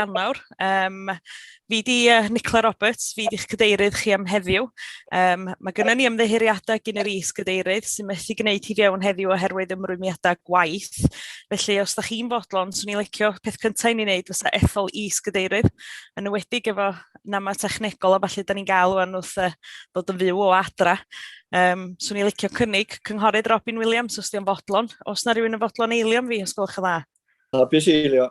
Ionawr. Um, fi di uh, Nicola Roberts, fi di'ch cadeirydd chi am heddiw. Um, mae gennym ni ymddeheuriadau gyn yr is cadeirydd sy'n methu gwneud hi fewn heddiw oherwydd ymrwymiadau gwaith. Felly, os da chi'n fodlon, swn i'n licio peth cyntaf i ni wneud fysa ethol is cadeirydd, yn ywedig efo nama technegol a falle da ni'n gael o'n wrth uh, bod yn fyw o adra. Um, swn i'n licio cynnig cynghorydd Robin Williams os di'n fodlon. Os na rhywun yn fodlon eilio fi, os gwelwch yn dda. Hapus eilio.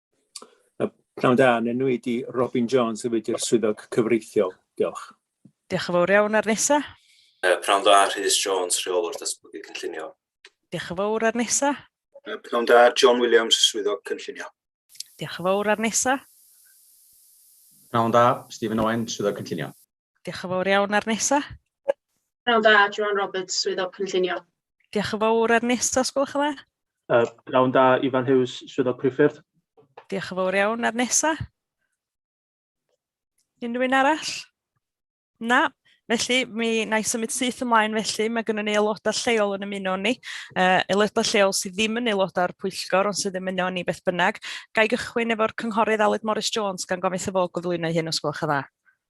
Pnawn da, yn enw i di Robin Jones y wedi'r swyddog cyfreithiol. Diolch. Diolch yn fawr iawn ar nesa. Uh, Pnawn da, Rhys Jones, rheolwr datblygu cynllunio. Diolch yn fawr ar nesa. Uh, Pnawn da, John Williams, swyddog cynllunio. Diolch yn fawr ar nesa. Pnawn da, Stephen Owen, swyddog cynllunio. Diolch yn fawr iawn ar nesa. Pnawn da, Joan Roberts, Swyddog Cynllunio. Diolch yn fawr ar nesa, os gwelwch yn dda. Uh, Pnawn da, Ifan Hughes, Swyddog Priffyrdd. Diolch yn fawr iawn ar nesa. Unrhyw un arall? Na, Felly, mi na i symud syth ymlaen felly, mae gennym ni aelodau lleol yn ymuno ni. Uh, aelodau lleol sydd ddim yn aelodau o'r pwyllgor, ond sydd yn ymuno ni beth bynnag. Gai gychwyn efo'r cynghorydd Aled Morris Jones gan gofyn wrtho fo gyflwyno hyn os gwelwch yn dda.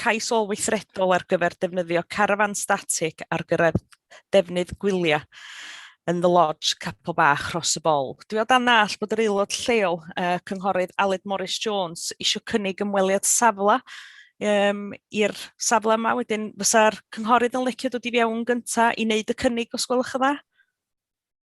Cais ôl-weithredol ar gyfer defnyddio carafán statig ar gyrraedd defnydd gwyliau yn The Lodge, Capel Bach, Rhos y Bol. Dwi o dan nall bod yr aelod lleol, uh, Cynghorydd Aled Morris Jones, eisiau cynnig ymweliad safle um, i'r safle yma. Wedyn fysa'r cynghorydd yn licio dod i fewn gyntaf i wneud y cynnig os gwelwch yn dda.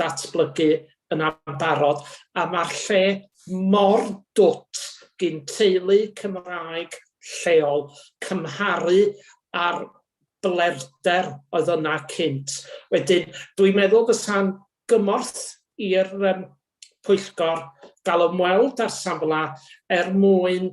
datblygu yn ambarod a mae'r lle mor dwt gin teulu Cymraeg lleol cymharu â'r blerder oedd yna cynt. Wedyn dwi'n meddwl fysa'n gymorth i'r pwyllgor gael ymweld â'r safle er mwyn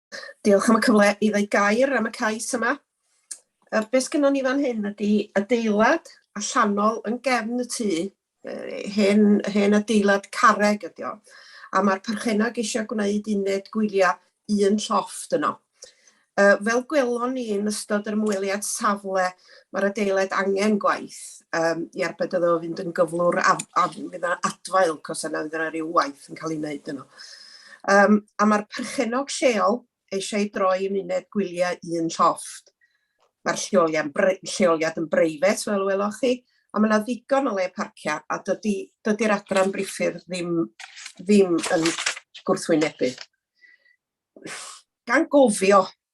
Diolch am y cyfle i ddweud gair am y cais yma. Yy be' sgynnon ni fan hyn ydi adeilad allanol yn gefn y tŷ, yy hen hen adeilad carreg ydi o, a ma'r perchennog isio gwneud uned gwylia un llofft yno. Yy fel gwelon ni yn ystod yr ymweliad safle Mae'r adeilad angen gwaith um, i arbed iddo fynd yn gyflwr a, a fydd yna adfail cos yna fydd yna rhyw waith yn cael ei wneud yno. Um, a mae'r perchenog lleol eisiau droi yn uned gwyliau un llofft. Mae'r lleoliad yn breifet, fel weloch chi, a mae yna ddigon o le parcio, a dydy'r dydy adran briffydd ddim, ddim yn gwrthwynebu. Gan gofio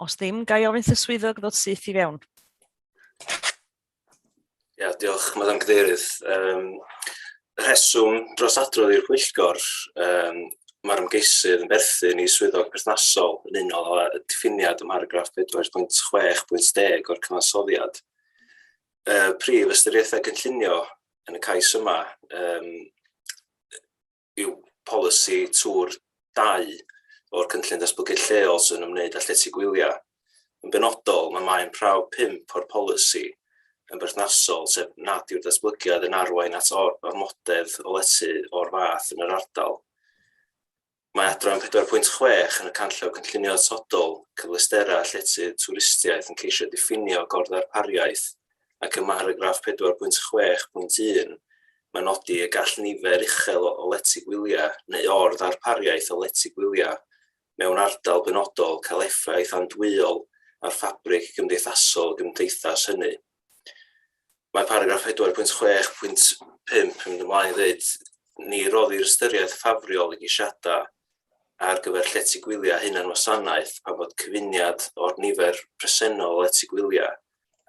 Os ddim, ga i ofyn wrth y swyddog ddod syth i fewn. Ia, diolch, Madam Cadeirydd. Um, rheswm dros adrodd i'r pwyllgor, um, mae'r ymgeisydd yn berthyn i swyddog perthnasol yn unol â diffiniad ym mharagraff 4.6.10 o'r cyfansoddiad. Y prif ystyriaethau cynllunio yn y cais yma um, yw polisi twr dau o'r Cynllun Datblygu Lleol sy'n ymwneud â llety gwyliau. Yn benodol, mae maen prawf pump o'r polisi yn berthnasol, sef nad yw'r datblygiad yn arwain at ormodedd o lety o'r fath yn yr ardal. Mae adran 4.6 yn y Canllaw Cynllunio Atodol, Cyfleusterau a Llety Twristiaeth yn ceisio diffinio gorddarpariaeth ac ym mharagraff 4.6.1 mae'n nodi y gall nifer uchel o lety gwyliau neu or-ddarpariaeth o lety gwyliau mewn ardal benodol cael effaith andwyol ar ffabrig gymdeithasol y gymdeithas hynny. Mae paragraff 4.6.5 yn mynd ymlaen i ddweud ni roddir ystyriaeth ffafriol i gisiadau ar gyfer llety gwyliau hunan wasanaeth pan fod cyfuniad o'r nifer presennol o lety gwyliau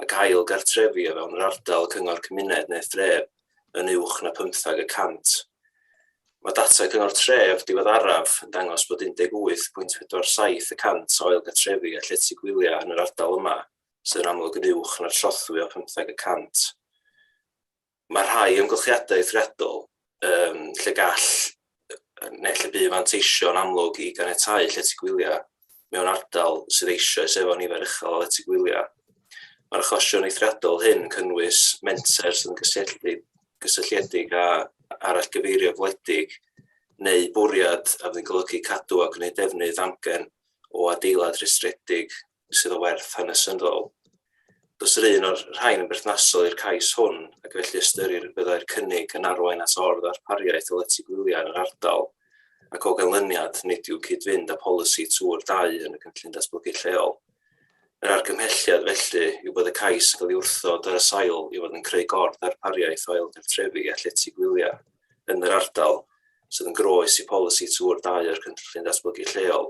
ac ail gartrefi o fewn yr ardal cyngor cymuned neu thref yn uwch na phymtheg y cant. Mae data Cyngor Tref diweddaraf yn dangos bod 18.47 y cant o ail gartrefi a llety gwyliau yn yr ardal yma sydd yn amlwg yn uwch na'r trothwy o phymtheg y cant. Mae rhai amgylchiadau eithriadol um, lle gall neu lle bu fanteisio yn amlwg i ganiatáu llety gwyliau mewn ardal sydd eisoes efo nifer uchel o lety gwyliau. Mae'r achosion eithriadol hyn yn cynnwys menter sy'n gysylltiedig, gysylltiedig â arall gyfeirio gwledig neu bwriad a fydd yn golygu cadw a gwneud defnydd amgen o adeilad rhestredig sydd o werth hanesyddol. Does yr un o'r rhain yn berthnasol i'r cais hwn, ac felly ystyrir y byddai'r cynnig yn arwain at or-ddarpariaeth o lety gwyliau yn yr ardal, ac o ganlyniad, nid yw cyd-fynd â polisi tŵr dau yn y cynllun datblygu lleol. Yr argymhelliad, felly, yw bod y cais yn cael ei wrthod ar y sail i fod yn creu gor-ddarpariaeth o ailgartrefi a llety gwyliau yn yr ardal, sydd yn groes i polisi tŵr dau o'r cynllun datblygu lleol.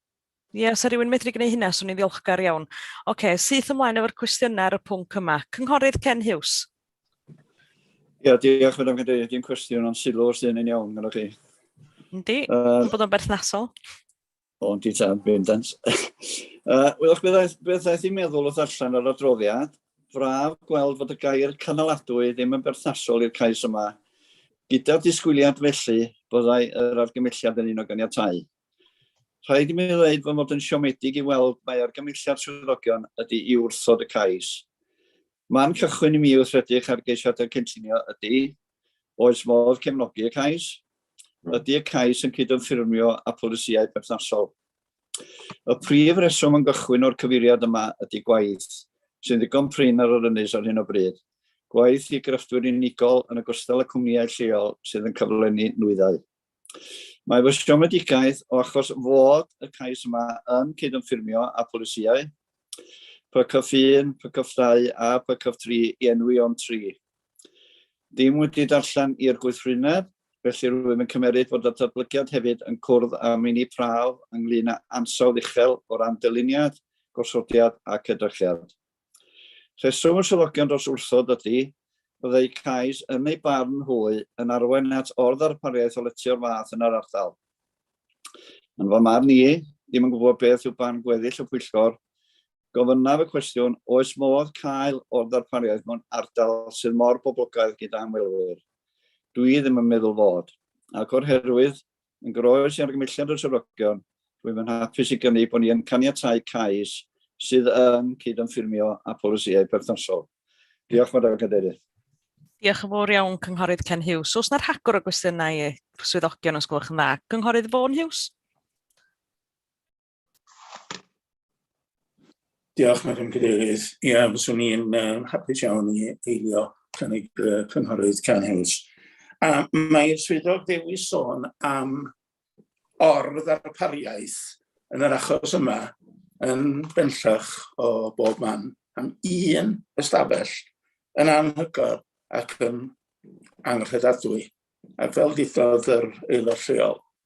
Ie, os 'sa rhywun yn medru gwneud hynna, 'swn i'n ddiolchgar iawn. Ocê, syth ymlaen efo'r cwestiynau ar y pwnc yma. Cynghorydd Ken Hughes. Ie, diolch Madam Cadeirydd. Dim cwestiwn ond sylw os ydyn ni'n iawn gyda chi. Yndi, uh, bod o'n berthnasol. O'n di tan bendant. uh, Wylwch, beth aeth i'n meddwl wrth allan yr adroddiad, braf gweld fod y gair canoladwy ddim yn berthnasol i'r cais yma, gyda'r disgwyliad felly byddai yr argymelliad yn un o ganiatau. Rhaid i mi ddweud fy mod yn siomedig i weld mae argymelliad swyddogion ydy i wrthod y cais. Man cychwyn i mi wrth edrych ar geisiadau cynllunio ydy, oes modd cefnogi y cais? Hmm. Ydy y cais yn cydymffurfio â pholisïau perthnasol? Y prif reswm yn gychwyn o'r cyfeiriad yma ydy gwaith, sy'n ddigon prin ar yr ynys ar hyn o bryd. Gwaith i grefftwyr unigol yn ogystal â cwmnïau lleol sydd yn cyflenni nwyddau. Mae fy siomedigaeth o achos fod y cais yma yn cydymffurfio â pholisïau PCF 1, PCF 2 a PCF 3 i enwi o'n tri. Ddim wedi darllen i'r gweithrwyneb, felly rwyf yn cymeryd fod y datblygiad hefyd yn cwrdd â meini prawf ynglŷn â ansawdd uchel o ran dyluniad, gosodiad ac edrychiad. Rheswm y swyddogion dros wrthod ydy, byddai cais yn eu barn hwy yn arwain at or-ddarpariaeth o lety o'r fath yn yr ardal. Yn fy marn i, ddim yn gwybod beth yw barn gweddill y pwyllgor, gofynnaf y cwestiwn, oes modd cael o'r ddarpariaeth mewn ardal sydd mor boblogaidd gyda ymwelwyr? Dwi ddim yn meddwl fod, ac o'r herwydd, Yn groes i argymelliad y swyddogion, rwyf yn hapus i gynnig bod ni yn caniatáu cais sydd yn cyd-ymffurfio â pholisïau perthnasol. Diolch, Madam Cadeirydd. Diolch yn fawr iawn, Cynghorydd Ken Hughes. Os na rhagor o gwestiynau i'r swyddogion, os gwelwch yn dda. Cynghorydd Vaughan Hughes? Diolch, Madam Cadeirydd. Ie, yeah, fyswn i'n um, hapus iawn i eilio cynnig uh, cynghorydd Can Hughes. A mae'r swyddog ddewis sôn am ordd ar pariaeth yn yr achos yma yn bellach o bob man am un ystafell yn anhygoel ac yn anghredadwy. Ac fel ddodd yr aelod lleol,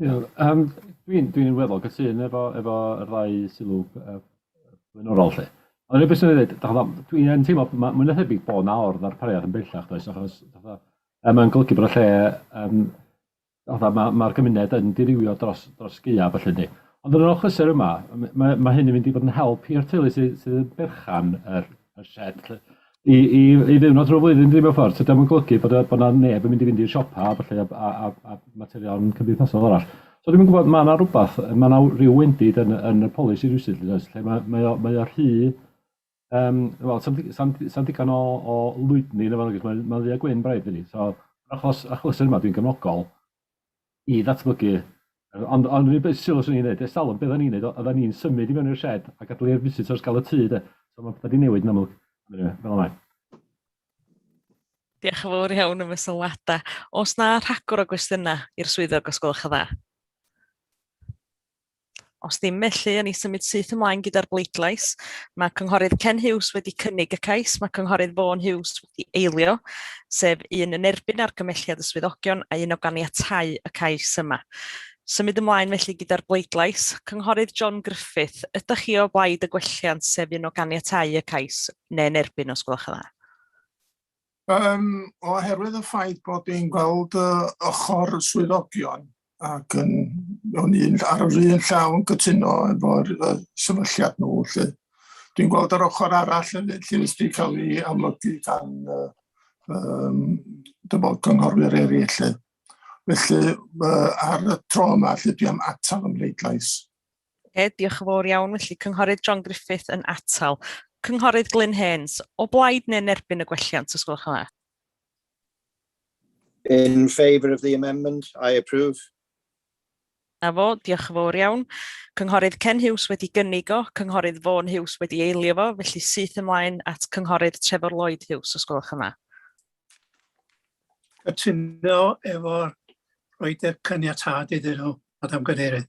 Iawn, yym dwi'n dwi'n weddol gytûn efo efo yr ddau sylw yy blaenorol 'lly. Ond rywbeth swn i'n ddeud, dach chibod, dwi yn teimlo ma' mwy na thebyg bod 'na or-ddarpariaeth yn bellach does, achos fatha yy mae'n golygu bod y lle yym fatha ma' ma'r gymuned yn dirywio dros dros gaeaf felly yndi? Ond yr hyn achlysur yma, m- mae mae hyn yn mynd i fod yn help i'r teulu sy sydd yn berchen ar y set i i i ddiwrnod trwy'r flwyddyn dydi mewn ffordd, so dio'm yn golygu bod yy bod 'na neb yn mynd i fynd i'r siopa a ballu a a a a materion cymdeithasol arall. So dwi'm yn gwbod ma' 'na rwbath yy ma' 'na w- ryw wendid yn y yn y polisi rywsut yndoes lle ma' mae o mae o rhy yym wel sa'm di- sa'm di- sa'm digon o o lwydni yn y fo nagos ma'n ma'n ddu a gwyn braidd dydi so achos achlysuron 'ma dwi'n gefnogol i ddatblygu. Ond ond yr unig beth sylw swn i'n neud, ers talwm be' oddan ni'n neud o- oddan ni'n symud i mewn i'r shed a gadal i'r visitors ga'l y tŷ 'de. So ma' petha 'di newid yn amlwg. Ond eniwe, fel 'a mae. Diolch yn fawr iawn am y sylwada. O's 'na rhagor o gwestiyna i'r swyddog os gwelwch yn dda? Os ddim felly, yn ei symud syth ymlaen gyda'r bleidlais. Mae Cynghorydd Ken Hughes wedi cynnig y cais, mae Cynghorydd Vaughan Hughes wedi eilio, sef un yn erbyn argymelliad y swyddogion a un o ganiatau y cais yma. Symud ymlaen felly gyda'r bleidlais. Cynghorydd John Griffith, ydych chi o blaid y gwelliant sef un o ganiatau y cais, neu'n erbyn os gwelwch yn dda? Um, oherwydd y ffaith bod ni'n gweld uh, ochr swyddogion ac yn, o'n i'n ar yr un llaw yn gytuno efo'r uh, sefylliad nhw. Lle. Dwi'n gweld yr ochr arall yn lle wedi cael ei amlygu gan uh, um, dyfod gynghorwyr eraill. Lle. Felly uh, ar y tro yma lle dwi am atal ymleidlais. Oce, diolch yn fawr iawn. Felly, Cynghorydd John Griffith yn atal. Cynghorydd Glyn Haynes, o blaid neu'n erbyn y gwelliant, os gwelwch yn dda? In favour of the amendment, I approve. Na fo, diolch yn fawr iawn. Cynghorydd Ken Hughes wedi gynnig o, Cynghorydd Vaughan Hughes wedi eilio fo, felly syth ymlaen at Cynghorydd Trevor Lloyd Hughes, os gwelwch yn dda. Cytuno efo'r rhoi'r caniatâd iddyn nhw, Madam Cadeirydd.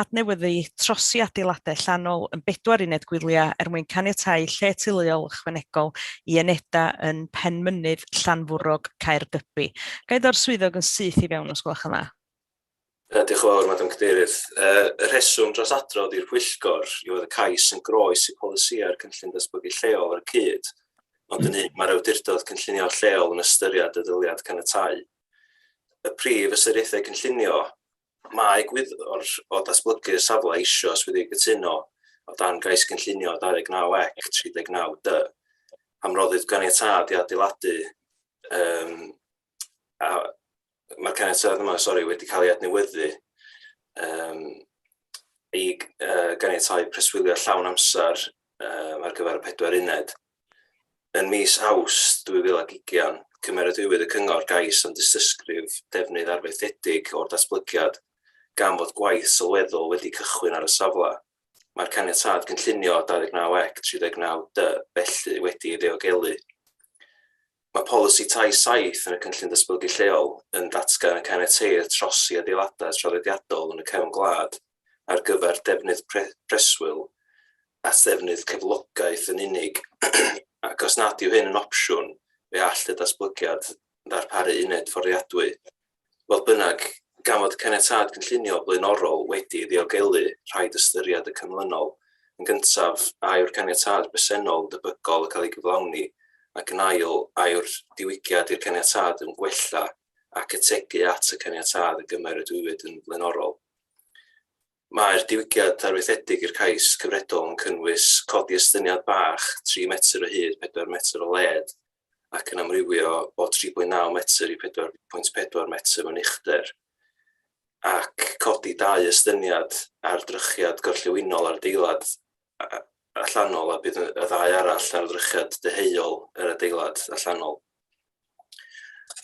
adnewyddu trosi adeiladau allanol yn bedwar uned gwyliau er mwyn caniatáu lle teuluol ychwanegol i unedau yn Penmynydd, Llanfwrog, Caergybi. Ga i ddorri'r swyddog yn syth i fewn os gwelwch yn dda? Diolch yn fawr, Madam Cadeirydd. Y rheswm dros adrodd i'r Pwyllgor yw fod y cais yn groes i polisïau'r Cynllun Datblygu Lleol ar y cyd, ond yn un mae'r Awdurdod Cynllunio Lleol yn ystyried y dyddiad caniatáu. Y prif ystyriaethau cynllunio Mae gwyddor o datblygu'r safle eisoes wedi cytuno, o dan Gais Cynllunio 29 ec 39 dy, am roddi'r ganiatâd i adeiladu um, a mae'r caniatâd yma sorry, wedi cael ei adnewyddu um, i uh, ganiatau preswylio llawn amser um, ar gyfer y pedwar uned. Ym mis Awst 2020, cymeradwywyd y Cyngor gais am dystysgrif defnydd arfaethedig o'r datblygiad, gan fod gwaith sylweddol wedi cychwyn ar y safle. Mae'r Caniatâd Cynllunio 29 ec 39 dy felly wedi ei ddiogelu. Mae Polisi Tai 7 yn y Cynllun Datblygu Lleol yn datgan y caniateir trosi adeiladau traddodiadol yn y cefn gwlad, ar gyfer defnydd preswyl at ddefnydd cyflogaeth yn unig, ac os nad yw hyn yn opsiwn, fe all y datblygiad ddarparu uned fforddiadwy. Fodd bynnag, gan fod caniatâd cynllunio blaenorol wedi ei ddiogelu, rhaid ystyried y canlynol. Yn gyntaf, a yw'r caniatâd bresennol yn debygol o cael ei gyflawni, ac yn ail, a yw'r diwygiad i'r caniatâd yn gwella ac ategu at y caniatâd y gymeradwywyd yn flaenorol. Mae'r diwygiad arfaethedig i'r cais cyfredol yn cynnwys codi estyniad bach 3 metr o hyd, 4 metr o led, ac yn amrywio o 3.9 metr i 4.4 metr mewn uchder, ac codi dau estyniad ar drychiad gorllewinol ar adeilad allanol a bydd y ddau arall ar ddrychiad deheuol yr adeilad allanol.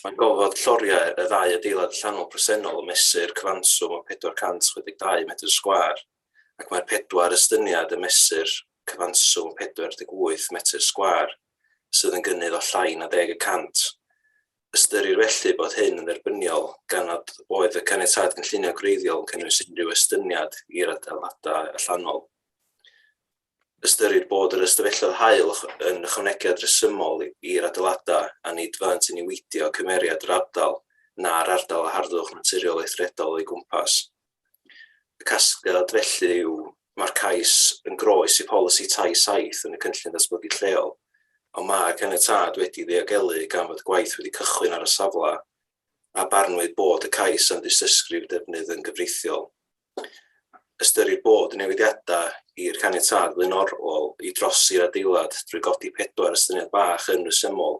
Mae gofod lloriau y ddau adeilad llanol presennol yn mesur cyfanswm o 462 metr sgwar ac mae'r pedwar estyniad yn mesur cyfanswm 48 metr sgwar sydd yn gynnydd o llai na deg y cant Ystyrir felly bod hyn yn dderbyniol gan nad oedd y Caniatâd Cynllunio Gwreiddiol yn cynnwys unrhyw estyniad i'r adeiladau allanol. Ystyrir bod yr ystafelloedd haul yn ychwanegiad rhesymol i'r adeiladau a nid fyddant yn niweidio cymeriad yr ardal na'r ardal a harddwch naturiol eithriadol o'i gwmpas. Y casgliad felly yw, mae'r cais yn groes i polisi tai saith yn y Cynllun Datblygu Lleol, ond mae caniatâd wedi ddiogelu gan fod gwaith wedi cychwyn ar y safle, a barnwyd bod y cais am ddystysgrif defnydd yn gyfreithiol. Ystyrir bod y newidiadau i'r caniatâd flaenorol i drosi'r adeilad drwy godi pedwar estyniad bach yn resymol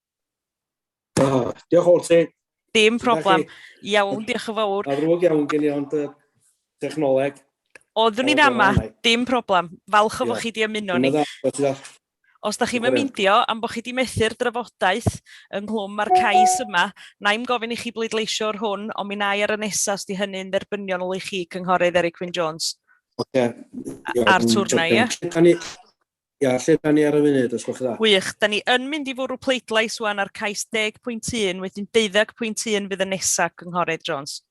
Ah, diolch o'r ti. Dim problem. Iawn, diolch yn fawr. A ddrwg iawn gen i ond y technoleg. Oeddwn ni'n ama, dim problem. Falch o fod chi wedi ymuno ni. Os da chi'n myndio am bod chi wedi methu'r drafodaeth ynghlwm mae'r cais yma, na i'n gofyn i chi bleidleisio'r hwn, ond mi na i ar y nesaf os di hynny'n dderbyniol i chi, Cynghorydd Eric Wyn Jones. Oce. A'r twrna, ie? Ia, lle da ni ar y funud, os gwelwch yn dda? Wych, da ni yn mynd i fwrw pleidlais wan ar cais 10.1, wedyn 12.1 fydd y nesaf, Cynghorydd Jones.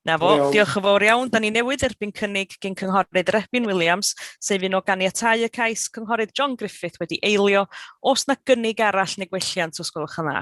Na fo, diolch yn fawr iawn. Da ni newydd erbyn cynnig gyn Cynghorydd Rebin Williams, sef un o ganiatau y cais, Cynghorydd John Griffith wedi eilio. Os na gynnig arall neu gwelliant, os gwelwch yn dda.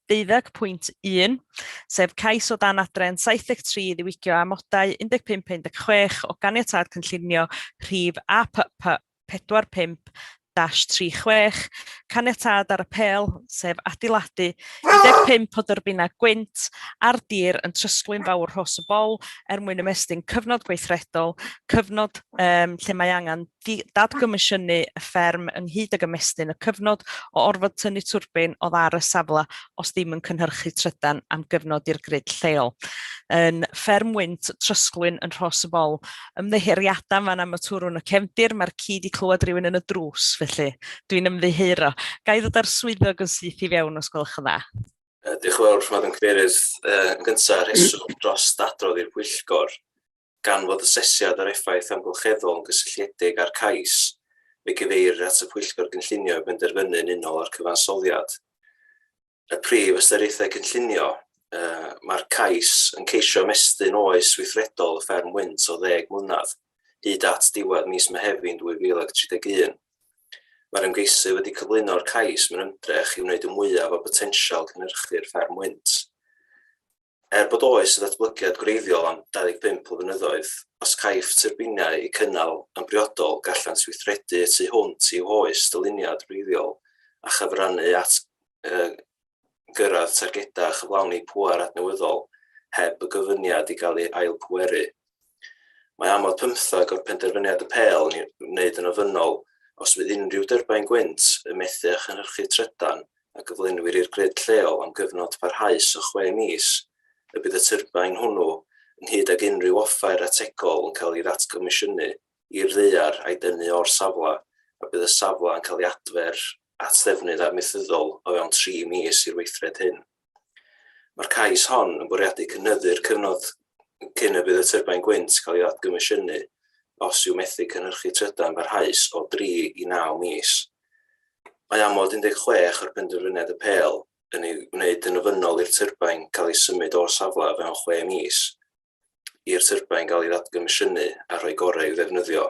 20.1, sef cais o dan adran 73 i ddiwygio amodau 15 a 16 o Ganiatâd Cynllunio Rhif APP 45-36, caniatâd ar apêl, sef adeiladu 15 o dyrbinau gwynt ar dir yn Trysglwyn Fawr Rhos y Bol er mwyn ymestyn cyfnod gweithredol, cyfnod um, lle mae angen dadgomisiynu y fferm ynghyd ag ymestyn y cyfnod o orfod tynnu twrbin oddi ar y safle os ddim yn cynhyrchu trydan am gyfnod i'r grid lleol. Yn fferm wynt Trysglwyn yn Rhos y Bol. Ymddiheuriadau yn fan am y twrw yn y cefndir, mae'r ci 'di clywed rhywun yn y drws, felly dwi'n ymddiheuro. Ga i ddod â'r swyddog yn syth i fewn os gwelwch yn dda? Diolch yn fawr, Madam Cadeirydd. Yn gyntaf, rheswm dros ddadrodd i'r Pwyllgor. Gan fod asesiad yr effaith amgylcheddol yn gysylltiedig â'r cais, fe gyfeirir at y Pwyllgor Gynllunio i benderfynu yn unol â'r cyfansoddiad. Y prif ystyriaethau cynllunio, Mae'r cais yn ceisio ymestyn oes weithredol y fferm wynt o ddeg mlynedd, hyd at ddiwedd mis Mehefin 2031. Mae'r ymgeisydd wedi cyflwyno'r cais mewn ymdrech i wneud y mwyaf o botensial cynhyrchu'r fferm wynt. Er bod oes ddatblygiad gwreiddiol am 25 o fynyddoedd, os caiff tyrbiniau eu cynnal yn briodol gallant weithredu y tu hwnt i'w hoes dyluniad wreiddiol a chyfrannu at gyrraedd targedau a chyflawni pŵer adnewyddol heb y gofyniad i gael ei ail-bweru. Mae amod pymtheg o'r penderfyniad y pêl i wneud yn ofynnol os fydd unrhyw dyrbaen gwynt yn methu â chynhyrchu trydan a gyflenwir i'r grid lleol am gyfnod parhaus o chwe mis, y bydd y tyrbaen hwnnw, ynghyd ag unrhyw offer ategol yn cael ei ddatgomisiynu i'r ddaear a'i dynnu o'r safle, a bydd y safle yn cael ei adfer at ddefnydd amaethyddol o fewn tri mis i'r weithred hyn. Mae'r cais hon yn bwriadu cynyddu'r cyfnod cyn y bydd y tyrbain gwynt cael ei ddadgomisiynu os yw methu cynhyrchu trydan barhaus o dri i naw mis. Mae amod 16 o'r Penderfyniad Apêl yn ei wneud yn ofynnol i'r tyrbain gael ei symud o'r safle o fewn chwe mis i'r tyrbine gael ei ddatgomisiynu a rhoi gorau i'w ddefnyddio.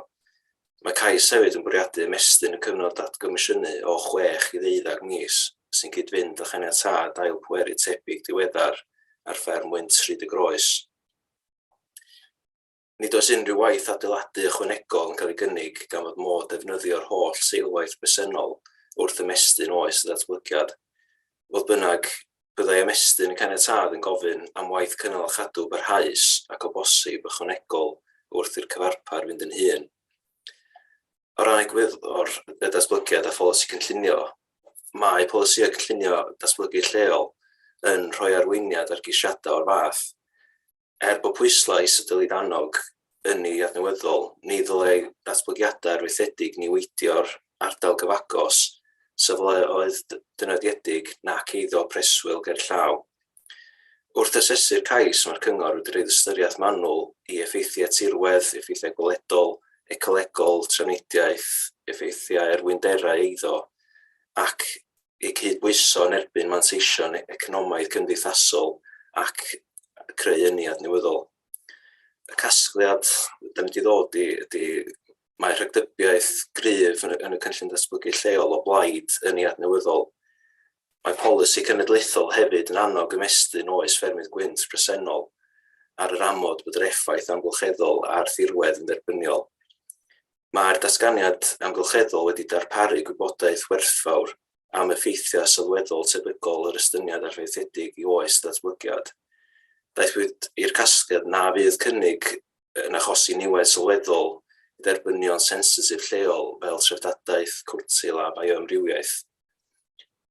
Mae cais hefyd yn bwriadu ymestyn y cyfnod datgomisiynu o 6 i ddeuddeg mis, sy'n cyd-fynd â chaniatâd ail pweru tebyg diweddar ar fferm wynt Rhyd y Groes. Nid oes unrhyw waith adeiladu ychwanegol yn cael ei gynnig gan fod modd defnyddio'r holl seilwaith bresennol wrth ymestyn oes y datblygiad. Fodd bynnag, byddai ymestyn y caniatâd yn gofyn am waith cynnal a chadw parhaus ac o bosib ychwanegol wrth i'r cyfarpar fynd yn hŷn. O ran egwyddor y datblygiad a pholisi cynllunio, mae polisïau cynllunio datblygu lleol yn rhoi arweiniad ar gisiadau o'r fath. Er bod pwyslais y Dylid Annog ynni adnewyddol, ni ddylai datblygiadau arfaethedig niweidio'r ardal gyfagos, safleoedd dynodiedig nac eiddo preswyl gerllaw. Wrth asesu'r cais, mae'r Cyngor wedi rhoi ystyriaeth manwl i effeithiau tirwedd, effeithiau gweledol, ecolegol, trafnidiaeth, effeithiau ar wynderau eiddo ac eu cydbwyso yn erbyn manteision economaidd cymdeithasol ac creu ynni adnewyddol. Y casgliad da ni wedi ddod i ydy mae rhagdybiaeth gryf yn y, yn y cynllun datblygu lleol o blaid ynni adnewyddol. Mae polisi cenedlaethol hefyd yn annog ymestyn oes ffermydd gwynt presennol ar yr amod bod yr effaith amgylcheddol a'r thirwedd yn dderbyniol. Mae'r datganiad amgylcheddol wedi darparu gwybodaeth werthfawr am effeithiau sylweddol tebygol yr estyniad arfaethedig i oes datblygiad. Daethpwyd i'r casgliad na fydd cynnig yn achosi niwed sylweddol i dderbynion sensitif lleol fel treftadaeth, cwrtil a bioamrywiaeth.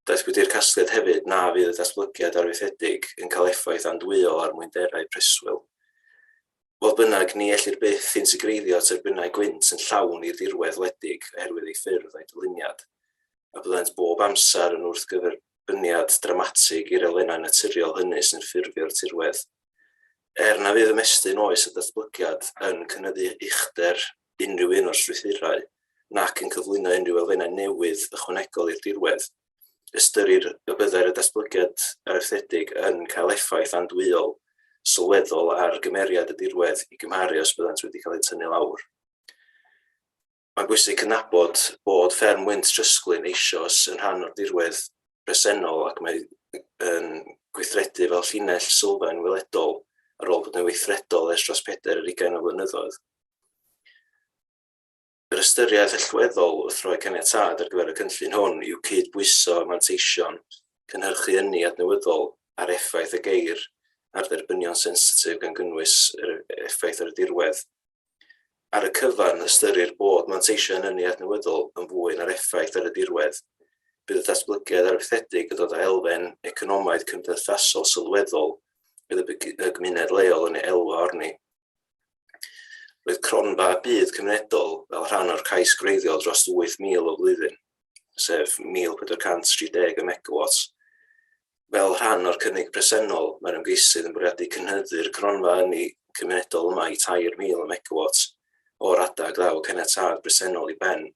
Daethpwyd i'r casgliad hefyd na fydd y datblygiad arfaethedig yn cael effaith andwyol ar mwynderau preswyl. Fodd bynnag, ni ellir byth insicreiddio tyrbynau gwynt yn llawn i'r dirwedd wledig oherwydd eu ffyrdd a'u dyluniad, a byddant bob amser yn wrthgyferbyniad dramatig i'r elfennau naturiol hynny sy'n ffurfio'r tirwedd. Er na fydd ymestyn oes a datblygiad yn cynyddu uchder unrhyw un o'r strwythurau, nac yn cyflwyno unrhyw elfennau newydd ychwanegol i'r dirwedd, ystyrir y byddai'r datblygiad arfaethedig yn cael effaith andwyol sylweddol ar gymeriad y dirwedd i gymharu os byddant wedi cael eu tynnu lawr. Mae'n bwysig cydnabod bod fferm wynt trysglyn eisoes yn rhan o'r dirwedd presennol ac mae yn gweithredu fel llinell sylfaen weledol ar ôl bod yn weithredol ers dros peder yr ugain o flynyddoedd. Yr ystyriaeth allweddol wrth roi caniatâd ar gyfer y cynllun hwn yw cydbwyso manteision cynhyrchu ynni adnewyddol â'r effaith y geir ar dderbynion sensitif gan gynnwys yr effaith ar y dirwedd. Ar y cyfan, ystyrir bod manteision yn ynni adnewyddol yn fwy na'r effaith ar y dirwedd. Bydd y datblygiad arfaethedig yn dod â elfen economaidd cymdeithasol sylweddol fydd y gymuned leol yn ei elwa arni. Roedd cronfa byd cymunedol fel rhan o'r cais gwreiddiol dros 8,000 o flwyddyn, sef 1,430 o megawatts. Fel rhan o'r cynnig presennol, mae'r ymgeisydd yn bwriadu cynhyddu'r cronfa ynni cymunedol yma i 3,000 o megawatts o'r adeg ddaw caniatâd presennol i ben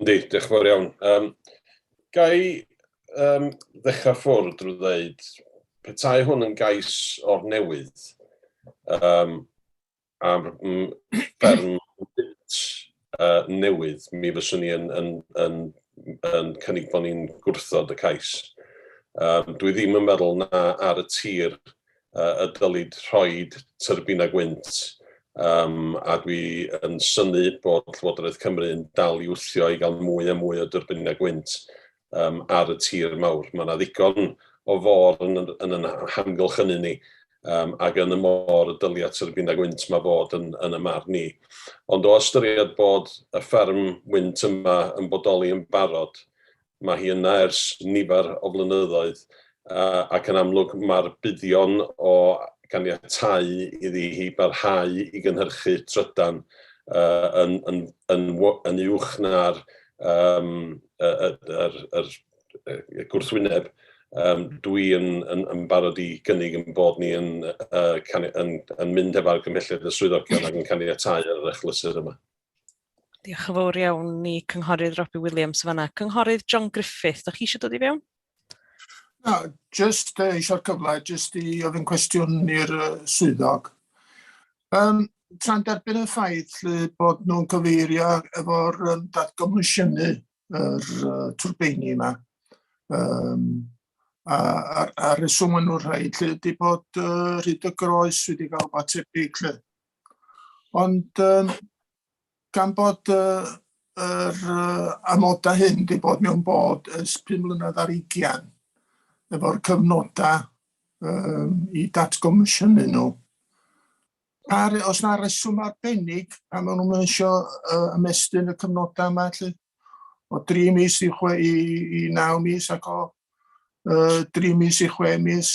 Yndi, diolch yn fawr iawn. Um, gai um, ddechrau ffwrdd drwy ddeud, petai hwn yn gais o'r newydd um, am fferm uh, newydd, mi fyswn ni yn, yn, yn, yn cynnig bod ni'n gwrthod y cais. Um, dwi ddim yn meddwl na ar y tir y dylid rhoi tyrbinau gwynt, a dwi yn synnu bod Llywodraeth Cymru yn dal i wthio i gael mwy a mwy o dyrbinau gwynt ar y tir mawr. Mae yna ddigon o fôr yn yn hamgylch hynny ni, ac yn y môr y dylia tyrbinau gwynt yma fod yn yn y marn i. Ond o ystyried bod y fferm wynt yma yn bodoli yn barod, Mae hi yna ers nifer o flynyddoedd ac yn amlwg mae'r buddion o ganiatáu iddi hi barhau i gynhyrchu trydan yn uwch na'r gwrthwyneb dwi yn barod i gynnig ein bod ni yn mynd heb argymhelliad y swyddogion ac yn caniatáu ar yr achlysur yma. Diolch yn fawr iawn i Cynghorydd Robbie Williams fanna. Cynghorydd John Griffith, da chi eisiau dod i fewn? Na, just uh, eisiau'r cyfle, just i ofyn cwestiwn i'r uh, swyddog. Um, tra'n derbyn y ffaith lle bod nhw'n cyfeirio efo'r um, datgomisiynnu yr uh, twrbeini yma, um, a, a, a reswm yn nhw'n rhaid lle ydy bod uh, rhyd y groes wedi cael fatebyg lle. Ond um, gan bod uh, yr uh, amodau hyn wedi bod mewn bod ys 5 mlynedd ar 20 efo'r cyfnodau um, i datgomisiynu nhw, Ar, os na reswm arbennig, a maen nhw'n eisiau uh, ymestyn y cyfnodau yma, lle, o 3 mis i, chwe, i, i 9 mis ac o uh, 3 mis i 6 mis,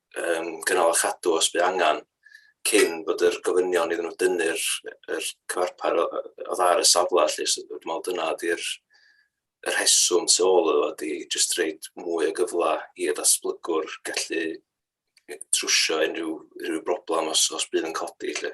um, gynnal a chadw os bydd angen cyn bod yr gofynion iddyn nhw dynnu'r er cyfarpar o, o ddar y safle lle so dwi'n meddwl dyna ydy'r yr heswm tu ôl iddo ydy jyst reid mwy o gyfle i y datblygwr gallu trwsio unrhyw, unrhyw broblem os, os bydd yn codi lle.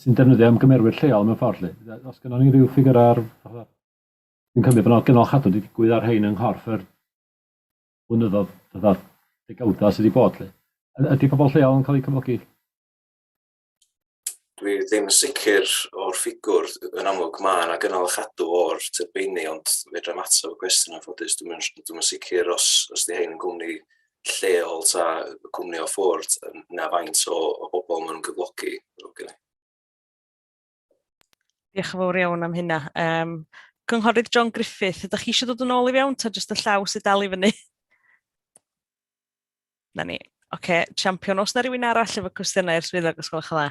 sy'n defnyddio ymgymerwyr lleol mewn ffordd 'lly. Os gynnon ni ryw ffigur ar fatha dwi'n cymryd bod 'na gynnal chadw wedi digwydd ar rhein yng nghorff yr blynyddoedd fatha degawda sydd wedi bod 'lly. Ydy pobl lleol yn cael eu cyflogi? Dwi ddim yn sicr o'r ffigwr yn amlwg ma' 'na gynnal a chadw o'r tyrbeini ond fedrai'm atab y cwestiwn yn ffodus dwi'm yn dwi'm yn sicr os os 'di 'hein yn gwmni lleol ta cwmni o ffwrdd na faint o, o bobl maen nhw'n gyflogi. Okay. Diolch yn fawr iawn am hynna. Um, Cynghorydd John Griffith, ydych chi eisiau dod yn ôl i fewn ta jyst y llaw sydd dal i fyny? Na ni. Oce, okay. champion, os na rhywun arall efo cwestiynau i'r swyddog, os gwelwch yn dda.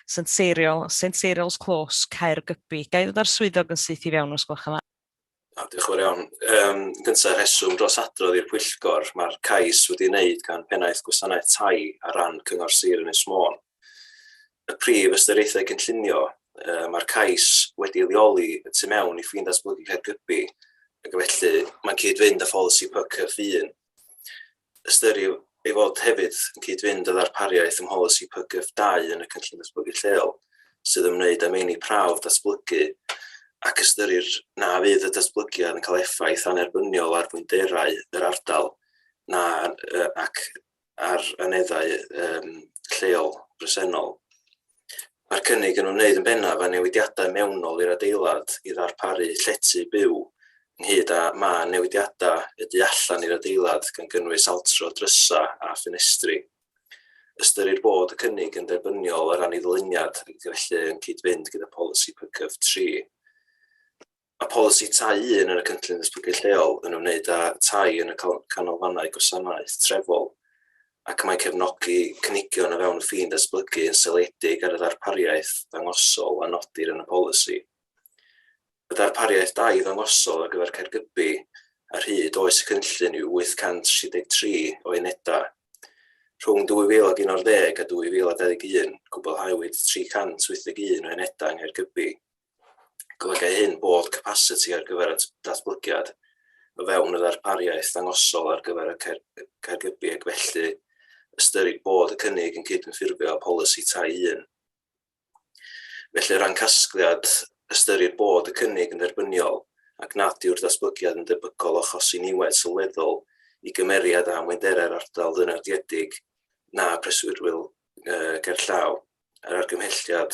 Saint Ceiriol, Saint Ceiriol's Close, Caergybi. Ga i ddod â'r swyddog yn syth i fewn os gwelwch yn dda? O, diolch yn fawr iawn. Um, gyntaf, rheswm dros adrodd i'r pwyllgor, mae'r cais wedi wneud gan Pennaeth Gwasanaeth Tai ar ran Cyngor Sir Ynys Môn. Y prif ystyriaethau cynllunio, uh, mae'r cais wedi leoli y tu mewn i ffin datblygu Caergybi, ac felly mae'n cyd-fynd â pholisi PYCF un. ystyriw ei fod hefyd yn cyd-fynd â ddarpariaeth ym mholisi PGF 2 yn y Cynllun Datblygu Lleol sydd ymwneud â meini prawf datblygu ac ystyrir na fydd y datblygiad yn cael effaith annerbyniol ar fwynderau yr ardal na ac ar aneddau um, lleol bresennol. Mae'r cynnig yn ymwneud yn bennaf â newidiadau mewnol i'r adeilad i ddarparu llety byw, ynghyd â mân newidiadau y du allan i'r adeilad gan gynnwys altro drysau a ffenestri. Ystyrir bod y cynnig yn dderbyniol o ran ei ddyluniad ac felly yn cyd-fynd gyda pholisi PCUV tri. Mae polisi Tai Un yn y Cynllun Datblygu Lleol yn ymwneud â tai yn y Canolfannau Gwasanaeth Trefol ac mae'n cefnogi cynigion o fewn y ffin datblygu yn seiliedig ar y ddarpariaeth ddangosol a nodir yn y polisi. Y darpariaeth dai ddangosol ar gyfer Caergybi ar hyd oes y cynllun yw 863 o unedau. Rhwng 2011 a 2021, cwblhawyd 381 o unedau yng Nghaergybi. Golygai hyn bod capasiti ar gyfer y datblygiad o fewn y ddarpariaeth ddangosol ar gyfer y Caergybi ac felly ystyrir bod y cynnig yn cydymffurfio â Pholisi Tai un. Felly o ran casgliad, ystyrir bod y cynnig yn dderbyniol ac nad yw'r datblygiad yn debygol o achosi niwed sylweddol i gymeriad a amwynderau'r ardal ddynodiedig na preswyrwyl gerllaw yr argymhelliad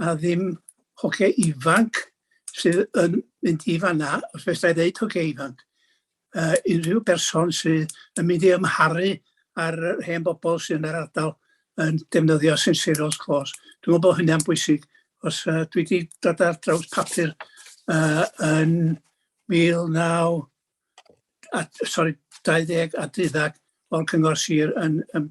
'na ddim hogia ifanc sydd yn mynd i fan 'na, os fedrai ddeud hogia ifanc, yy unrhyw berson sydd yn mynd i ymharu ar yr hen bobl sydd yn yr ardal yn defnyddio St Cyrill's Close. Dwi'n meddwl bod hynny'n bwysig, os uh, dwi wedi dod ar draws papur uh, yn 19... A, sorry, 20 a 30 o'r Cyngor Sir yn, yn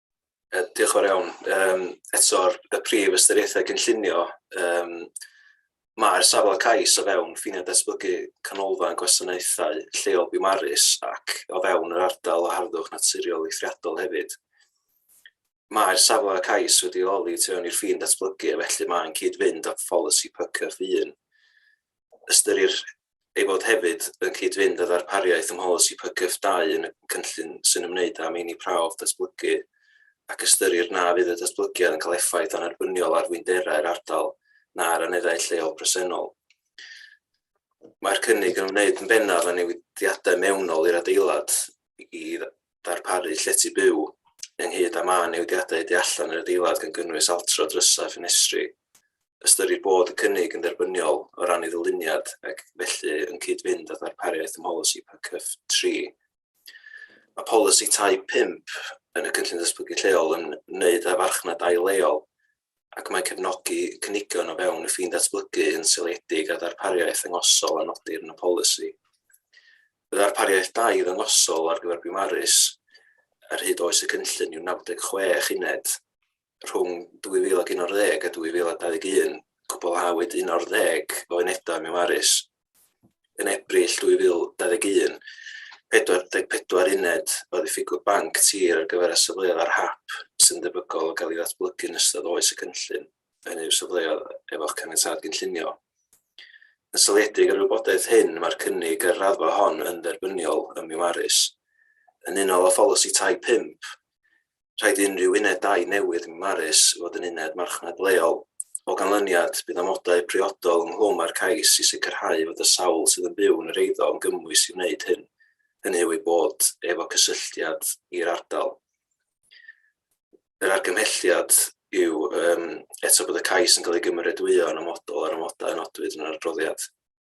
Yy diolch yn fawr iawn. Yym eto'r y prif ystyriaethau cynllunio yym mae'r safle cais o fewn ffiniau datblygu canolfan gwasanaethau lleol Biwmaris ac o fewn yr ardal o harddwch naturiol eithriadol hefyd. Mae'r safle cais wedi leoli tu fewn i'r ffin datblygu a felly mae'n cyd-fynd â pholisi PCAF 1. Ystyrir ei fod hefyd yn cyd-fynd â darpariaeth ym mholisi PGF dau yn y cynllun sy'n ymwneud â meini prawf datblygu ac ystyrir na fydd y datblygiad yn cael effaith annerbyniol ar fwynderau'r ardal na'r aneddau lleol presennol. Mae'r cynnig yn ymwneud yn bennaf â newidiadau mewnol i'r adeilad i darparu llety byw, ynghyd â mân newidiadau y tu allan i'r adeilad gan gynnwys altro drysau a ffenestri. Ystyrir bod y cynnig yn dderbyniol o ran ei ddyluniad ac felly yn cyd-fynd â darpariaeth ym mholisi PCF 3. Mae polisi tai 5 yn y cynllun datblygu lleol yn wneud â farchnad dai leol ac mae cefnogi cynigion o fewn y ffin datblygu yn seiliedig ar ddarpariaeth ddangosol a nodir yn y polisi. Y ddarpariaeth dai ddangosol ar gyfer Biwmaris ar hyd oes y cynllun yw 96 uned. Rhwng 2011 a 2021, cwblhawyd 11 o unedau Miwmaris yn Ebrill 2021, 44 uned o ddiffygwr banc tir ar gyfer y safleoedd ar hap sy'n debygol o gael ei ddatblygu yn ystod oes y cynllun, hynny yw safleoedd efo'ch caniatâd gynllunio. Yn seiliedig ar y wybodaeth hyn, mae'r cynnig ar raddfa hon yn dderbyniol ym Miwaris. Yn unol â pholisi tai 5, rhaid i unrhyw uned dai newydd ym Mharis fod yn uned marchnad leol. O ganlyniad, bydd amodau priodol ynghlwm â'r cais i sicrhau fod y sawl sydd yn byw yn yr eiddo yn gymwys i wneud hyn, hynny yw eu bod efo cysylltiad i'r ardal. Yr argymhelliad yw um, eto bod y cais yn cael ei gymeradwyo yn amodol ar amodau nodwyd yn yr adroddiad.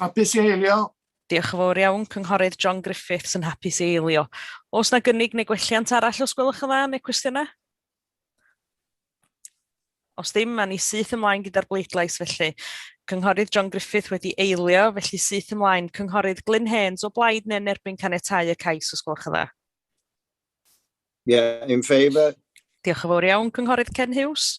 Hapus i eilio. Diolch yn fawr iawn, Cynghorydd John Griffiths yn hapus i eilio. Os na gynnig neu gwelliant arall os gwelwch yn dda neu cwestiynau? Os ddim, mae ni syth ymlaen gyda'r bleidlais felly. Cynghorydd John Griffith wedi eilio, felly syth ymlaen. Cynghorydd Glyn Haines o blaid neu'n erbyn canetau y cais os gwelwch yn dda? Yeah, in favour. Diolch yn fawr iawn, Cynghorydd Ken Hughes.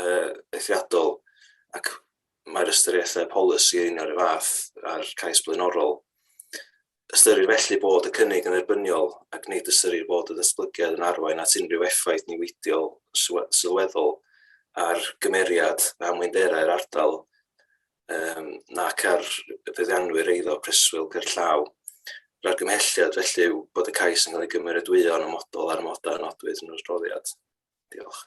uh, eithriadol ac mae'r ystyriaethau polisi yn o'r fath a'r cais blaenorol. Ystyrir felly bod y cynnig yn erbyniol ac nid ystyrir bod y ddatblygiad yn arwain at unrhyw effaith niweidiol sylweddol ar gymeriad a mwynderau'r ardal um, nac ar feddianwyr eiddo preswyl gerllaw. Yr argymhelliad felly yw bod y cais yn cael ei gymeradwyo'n ymodol ar ymodau nodwyd yn yr adroddiad. Diolch.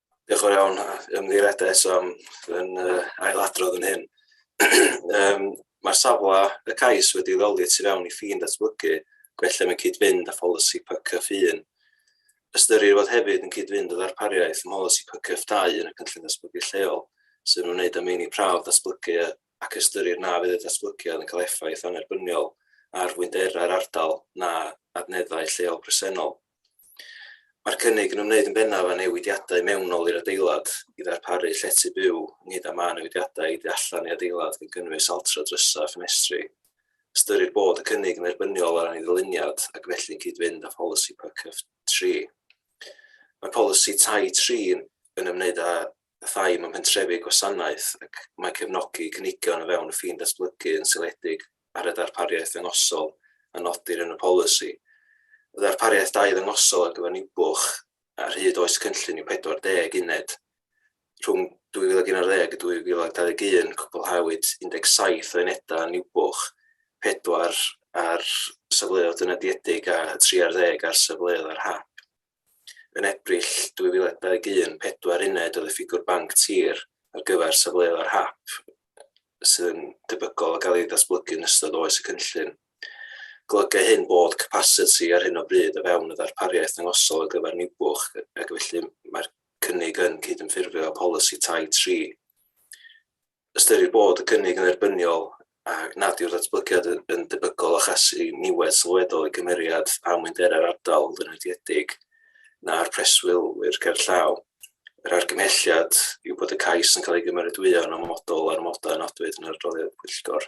Diolch yn iawn, ymddiheuriadau eto am yn uh, ailadrodd yn hyn. um, Mae'r safle y cais wedi ddoli tu fewn i ffin datblygu, gwella mewn cyd-fynd â pholisi PCF 1. Ystyrir fod hefyd yn cyd-fynd â ddarpariaeth ym mholisi PCF 2 yn y cynllun datblygu lleol, sy'n ymwneud â meini prawf datblygu ac ystyrir na fydd y datblygiad yn cael effaith annerbyniol ar fwynderau'r ardal na adneddau lleol presennol. Mae'r cynnig yn ymwneud yn bennaf â newidiadau mewnol i'r adeilad i ddarparu llety byw, ynghyd â mân newidiadau i du allan i adeilad gan gynnwys altro drysau a ffenestri. Ystyrir bod y cynnig yn dderbyniol o ran ei ddyluniad ac felly'n cyd-fynd â pholisi PCUF tri. Mae polisi tai tri yn ymwneud â pethau mewn pentrefi gwasanaeth ac mae cefnogi cynigion o fewn y ffin datblygu yn seiliedig ar y darpariaeth ddangosol a nodir yn y polisi. Y ddarpariaeth dau ddangosol ar gyfer Niwbwch ar hyd oes y cynllun yw 40 uned. Rhwng 2011 a 2021 cwblhawyd 17 o unedau yn Niwbwch, 4 ar safleoedd dynodiedig a 13 ar safleoedd ar hap. Yn Ebrill 2021, pedwar uned oedd y ffigwr banc tir ar gyfer safleoedd hap sydd yn debygol o gael eu datblygu yn ystod oes y cynllun. Golygai hyn bod capasiti ar hyn o bryd o fewn y ddarpariaeth ddangosol ar gyfer Niwbwch ac felly mae'r cynnig yn cydymffurfio â pholisi Tai tri. ystyrir bod y cynnig yn dderbyniol a nad yw'r datblygiad yn debygol o achosi niwed sylweddol i gymeriad amwynderau'r ardal flinodiedig na'r preswylwyr gerllaw. Yr argymhelliad yw bod y cais yn cael ei gymeradwyo'n amodol ar amodau a nodwyd yn yr adroddiad pwyllgor.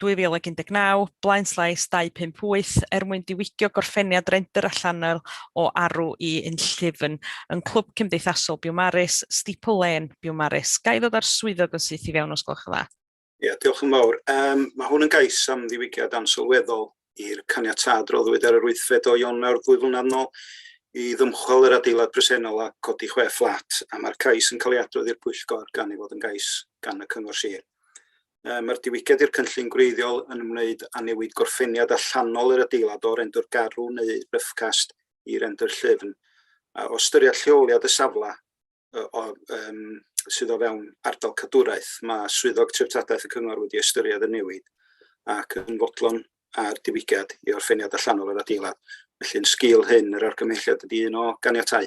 2019, blaenllais 258, er mwyn diwygio gorffeniad rendr allanol o arw i unllyfn yn Clwb Cymdeithasol Biwmaris, Steeple Lane, Biwmaris. Ga i ddod â'r swyddog yn syth i fewn os gwelwch yn dda? Ie, diolch yn fawr. Um, mae hwn yn gais am ddiwygiad ansylweddol i'r caniatâd roddwyd ar yr wythfed o Ionawr ddwy flynedd nôl i ddymchwel yr adeilad presennol a codi chwe fflat, a mae'r cais yn cael ei adrodd i'r pwyllgor gan ei fod yn gais gan y Cyngor Sir. Yy mae'r diwygiad i'r cynllun gwreiddiol yn ymwneud â newid gorffeniad allanol yr adeilad o rendr garw neu ryffcast i rendr llyfn. A o ystyried lleoliad y safle yy o, um, sydd o fewn ardal cadwraeth, mae Swyddog Treftadaeth y Cyngor wedi ystyried y newid ac yn fodlon ar diwygiad i orffeniad allanol yr adeilad. Felly'n sgil hyn, yr argymhelliad ydy un o ganiatau.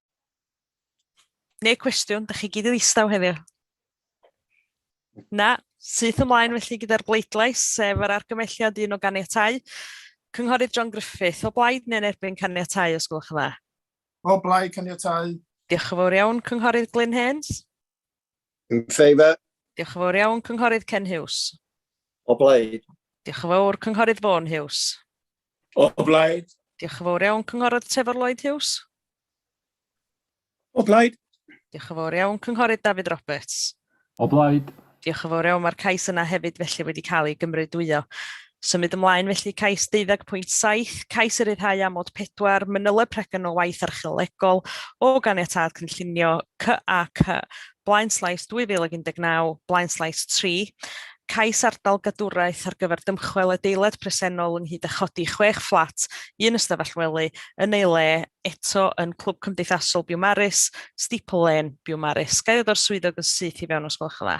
Neu cwestiwn, da chi gyd yn ddistaw heddiw. Na, syth ymlaen felly gyda'r bleidlais, sef yr argymelliad un o ganiatau. Cynghorydd John Griffith, o blaid neu'n erbyn caniatau, os gwelwch yn dda? O blaid caniatau. Diolch yn fawr iawn, Cynghorydd Glyn Haynes. In favour. Diolch yn fawr iawn, Cynghorydd Ken Hughes. O blaid. Diolch yn fawr, Cynghorydd Vaughan Hughes. O blaid. Diolch yn fawr iawn, Cynghorydd Trevor Lloyd Hughes. O blaid. Diolch yn fawr iawn, Cynghorydd David Roberts. O blaid. Diolch yn fawr iawn, mae'r cais yna hefyd felly wedi cael ei gymrydwyo. Symud ymlaen felly, cais 12.7, cais i ryddhau amod 4, manyleb pregyn o waith archeolegol o ganiatâd cynllunio CAC, Blaenslais 2019, Blaenslais 3, cais ardal gadwraeth ar gyfer dymchwel adeilad presennol ynghyd â chodi chwech fflat, un ystafell wely, yn ei le, eto yn Clwb Cymdeithasol Biwmaris, Steeple Lane, Biwmaris. Ga i ddod o'r swyddog yn syth i fewn os gwelwch yn dda?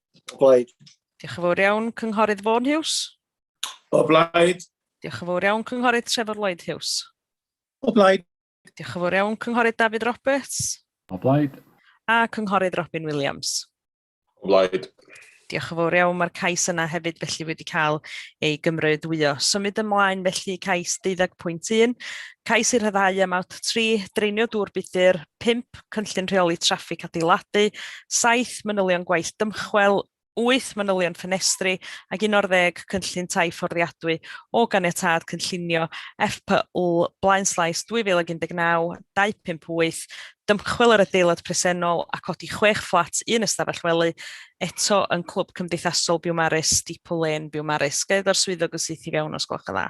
O blaid. Diolch yn fawr iawn, Cynghorydd Fôn Hughes. O blaid. Diolch yn fawr iawn, Cynghorydd Trevor Lloyd Hughes. O blaid. Diolch yn fawr iawn, Cynghorydd David Roberts. O blaid. A Cynghorydd Robin Williams. O blaid. Diolch yn fawr iawn, mae'r cais yna hefyd felly wedi cael ei gymrydwyo. Symud ymlaen felly cais 12.1, Cais i ryddhau am awt 3, draenio dŵr budr, 5, cynllun rheoli traffig adeiladu, 7, manylion gwaith dymchwel, 8, manylion ffenestri, ac 11, cynllun tai fforddiadwy o ganiatâd cynllunio FPL Blaen Slais 2019, 258, dymchwel yr adeilad presennol a codi chwech fflat un ystafell wely, eto yn Clwb Cymdeithasol Biwmaris, Steeple Lane, Biwmaris. Gael edo'r swyddog yn syth i fewn os gwelwch yn dda.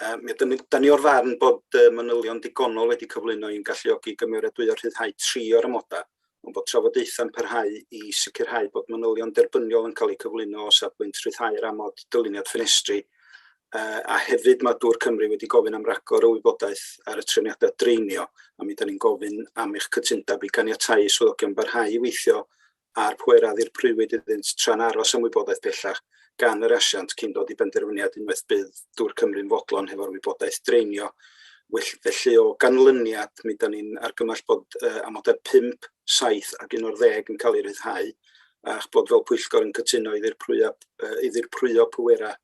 Yym, mi ydym yn... 'dan ni o'r farn bod y manylion digonol wedi cyflwyno i'n galluogi i gymeradwyo rhyddhau tri o'r amodau, ond bod trafodaethau'n parhau i sicrhau bod manylion derbyniol yn cael eu cyflwyno o safbwynt rhyddhau'r amod dyluniad ffenestri, yy a hefyd mae Dŵr Cymru wedi gofyn am ragor o wybodaeth ar y trefniadau draenio, a mi 'dan ni'n gofyn am eich cytundeb i ganiatáu i swyddogion barhau i weithio a'r pŵer a ddirprwywyd iddynt tra'n aros am wybodaeth bellach gan yr asiant cyn dod i benderfyniad unwaith bydd Dŵr Cymru'n fodlon hefo'r wybodaeth draenio. Well, felly, o ganlyniad, mi 'dan ni'n argymell bod uh, amodau 5, 7 ac 11 yn cael eu rhyddhau a'ch bod fel pwyllgor yn cytuno i ddirprwyo, uh, i ddirprwyo pwerau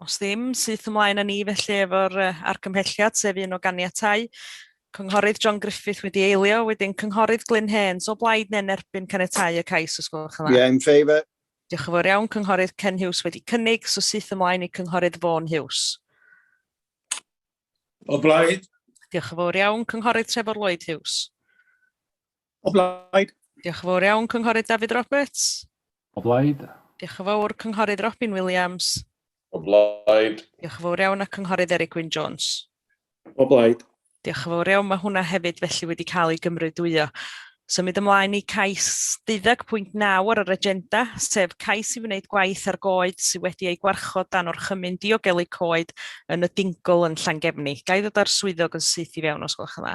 Os ddim, syth ymlaen â ni felly efo'r uh, argymhelliad, sef un o ganiatau. Cynghorydd John Griffith wedi eilio, wedyn Cynghorydd Glyn Haines o blaid neu'n erbyn caniatau y cais os gwelwch yn dda. Yeah, in favour. Diolch yn fawr iawn, Cynghorydd Ken Hughes wedi cynnig, so syth ymlaen i Cynghorydd Vaughan Hughes. O blaid. Diolch yn fawr iawn, Cynghorydd Trevor Lloyd Hughes. O blaid. Diolch yn fawr iawn, Cynghorydd David Roberts. O blaid. Diolch yn fawr, Cynghorydd Robin Williams. O blaid. Diolch yn fawr iawn, a Cynghorydd Eric Wyn Jones. O blaid. Diolch yn fawr iawn, mae hwnna hefyd felly wedi cael ei gymrydwyo. Symud ymlaen i cais 12.9 ar yr agenda, sef cais i wneud gwaith ar goed sydd wedi ei gwarchod dan o'r chymyn diogelu coed yn y Dingl yn Llangefni. Ga i ddod â'r swyddog yn syth i fewn os gwelwch yn dda?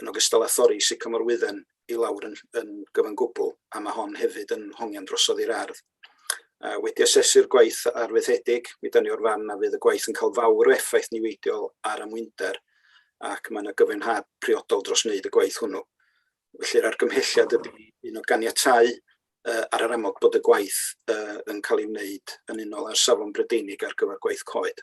yn ogystal â thorri sycamor wydden i lawr yn yn gyfan gwbl, a mae hon hefyd yn hongian drosodd i'r ardd. A wedi asesu'r gwaith arfaethedig, mi dan ni o'r fan na fydd y gwaith yn cael fawr o effaith niweidiol ar amwynder ac mae yna gyfenhad priodol dros wneud y gwaith hwnnw. Felly'r argymhelliad ydy un o ganiatau uh, ar yr amod bod y gwaith uh, yn cael ei wneud yn unol â'r safon Brydeinig ar gyfer gwaith coed.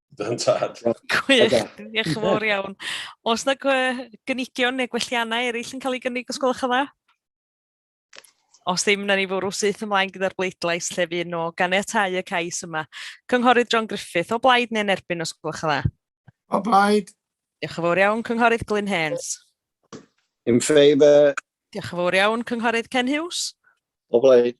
Dy'n tad. Gwych, diolch yn fawr iawn. Os na gynigion neu gwelliannau eraill yn cael ei gynnig, os gwelwch yn dda? Os ddim, na ni fwrw syth ymlaen gyda'r bleidlais lle fi yno ganiatau y cais yma. Cynghorydd John Griffith, o blaid neu'n erbyn os gwelwch yn dda? O blaid. Diolch yn fawr iawn, Cynghorydd Glyn Hens. In favour. Diolch yn fawr iawn, Cynghorydd Ken Hughes. O blaid.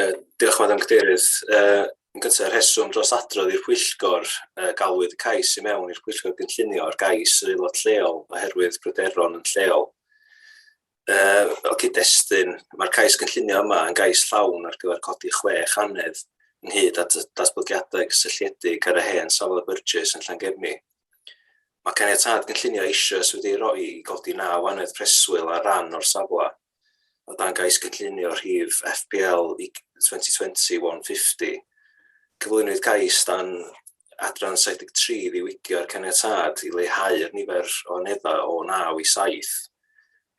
Yy diolch Madam Cadeirydd. Yy yn gyntaf, y rheswm dros adrodd i'r pwyllgor yy galwyd y cais i mewn i'r pwyllgor gynllunio ar gais yr aelod lleol oherwydd pryderon yn lleol. Yy fel cyd-destun, mae'r cais gynllunio yma yn gais llawn ar gyfer codi chwech anedd ynghyd at y datblygiadau cysylltiedig ar y hen safle Burgess yn Llangefni. Mae caniatâd gynllunio eisoes wedi ei roi i godi naw anedd preswyl ar ran o'r safle. o dan gais cynllunio rhif FPL 2020-150, cyflwynwyd cais dan adran 73 i ddiwygio'r caniatâd i leihau'r nifer o aneddau o 9 i 7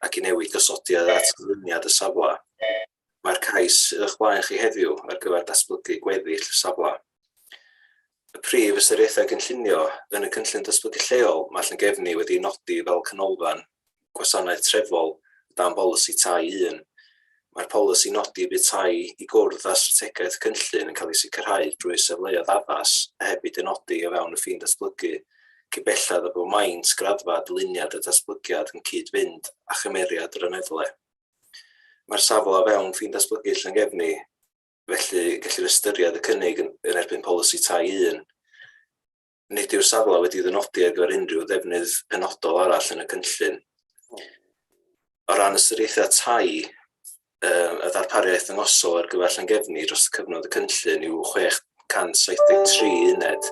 ac i newid gosodiad at gyflwyniad y safle. Mae'r cais sydd o'ch blaen chi heddiw ar gyfer datblygu gweddill y safle. y Prif Ystyriaethau Cynllunio, yn y Cynllun Datblygu Lleol mae Llangefni wedi'i nodi fel canolfan gwasanaeth trefol o dan Bolisi Tai un. Mae'r polisi nodi y bydd tai i gwrdd â strategaeth y cynllun yn cael ei sicrhau drwy safleoedd addas a hebid eu nodi o fewn y ffin datblygu cyn belled â bod maint, graddfa, dyluniad a datblygiad yn cyd-fynd â chymeriad yr aneddle. Mae'r safle o fewn ffin datblygu Llangefni, Felly, gellir ystyried y cynnig yn, yn erbyn polisi tai 1. Nid yw'r safle wedi ddynodi ar gyfer unrhyw ddefnydd penodol arall yn y cynllun. O ran ystyriaethau tai, um, y ddarpariaeth yngosol ar gyfer llangefni dros y cyfnod y cynllun yw 673 uned.